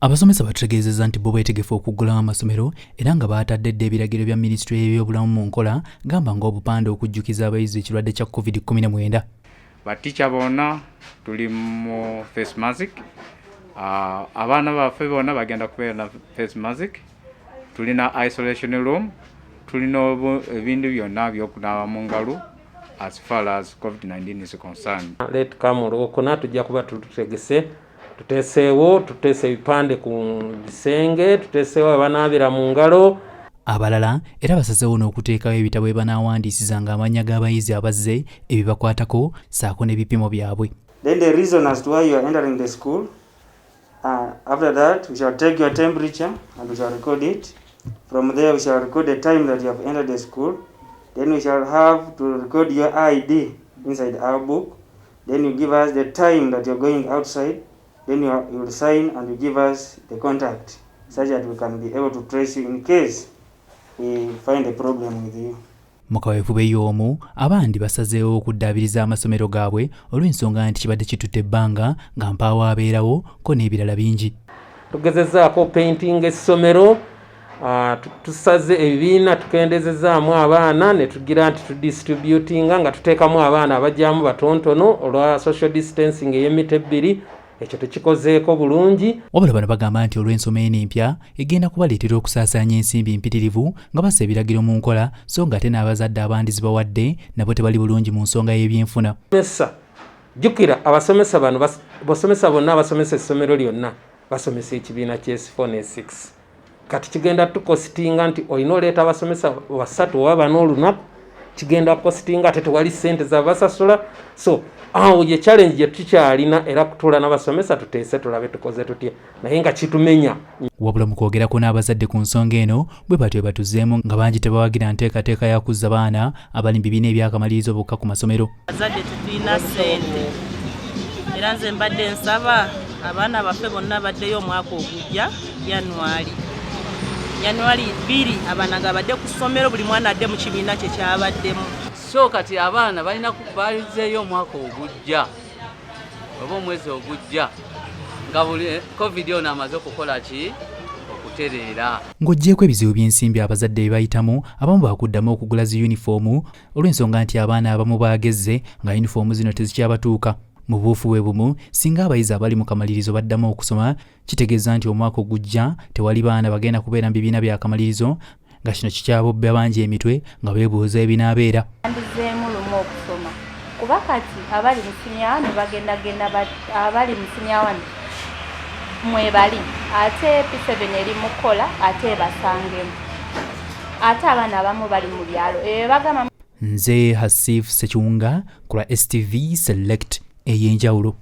Abasomesa batutegeezezza nti bo beetegefu okuggulawo amasomero era nga baatadde dda ebiragiro bya minisitule y'ebyobulamu mu nkola gamba ng'obupande okujjukiza abayizi ekirwadde kya covid 19 batica bona tuli mu face mask ah, abaana baffe bona bagenda kubeera na face mask tulina isolation room tulina ebintu byonna byokunaaba mu ngalo as far as covid-19 is concerned let come olwokuna tujja kuba tututegese tuteeseewo tuteese ebipande ku bisenge tuteeseewo abanaabira mu ngalo abalala era basazeewo n'okuteekawo ebitabo ebanaawandiisizanga amannya g'abayizi abazze ebibakwatako saako n'ebipimo byabwe then the reason as to why you are entering the school uh, after that we shall take your temperature and we shall record it from there we shall record the time that you have entered the school then we shall have to record your id inside our book then you give us the time that you're going outside then you, you will sign and you give us the contact such that we can be able to trace you in case we find a problem with you mu kaweefube y'omu abandi basazeewo okuddaabiriza amasomero gaabwe olw'ensonga nti kibadde kitutte ebbanga nga mpaawo abeerawo ko n'ebirala bingi tugezezzaako painting essomero Ah, tusaze ebibiina tukendezezaamu abaana netugira nti tudistributinga nga tuteekamu abaana abajyamu batontono olwa social distancing ey'emita ebbiri ekyo tukikozeeko bulungi wabula bano bagamba nti olw'ensoma eno empya egenda kubaleetera okusaasaanya ensimbi mpitirivu nga bassa ebiragiro mu nkola so nga ate n'abazadde abandi zibawadde nabo tebali bulungi mu nsonga y'ebyenfuna mesa jjukira abasomesa bano basomesa bonna abasomesa essomero lyonna basomesa ekibiina ky'esifo ne 6 kati kigenda tukositinga nti olina oleeta abasomesa basatu oba bana olunaku kigenda kukositinga ate tewali sente zabasasula so awo ye challenge gyetukyalina era kutuula nabasomesa tuteese tulabe tukoze tutya naye nga kitumenya wabula mu kwogerako n'abazadde ku nsonga eno bwe batyo batuzeemu nga bangi tebawagira nteekateeka ya kuzza baana abali mu bibiina ebyakamaliriza obukka ku masomero Bazadde tetulina ssente era nze mbadde nsaba abaana baffe bonna baddeyo omwaka ogujja January January bbiri abaana nga badde ku ssomero buli mwana adde mu kibiina kye kyabaddemu so kati abaana balina balizeeyo omwaka ogujja oba omwezi ogujja nga buli eh, covid ono amaze okukola ki okutereera ng'oggyeeko ebizibu by'ensimbi abazadde bye bayitamu abamu baakuddamu okugula zi yunifoomu olw'ensonga nti abaana abamu baagezze nga yunifoomu zino tezikyabatuuka mu buufu bwe bumu singa abayizi abali mu kamalirizo baddamu okusoma kitegeeza nti omwaka ogujja tewali baana bagenda kubeera mu bibiina bya kamalirizo nga kino kikyabobbe abangi emitwe nga beebuuza ebinaabeera andizeemu lumu okusoma kuba kati abali mu siniyaani bagendagenda abali mu siniyaani mwebali ate p7 eri mu kukola ate ebasangemu ate abaana abamu bali mu byalo ebyo bagamba nze hasif sekiwunga ku lwa stv select ey'enjawulo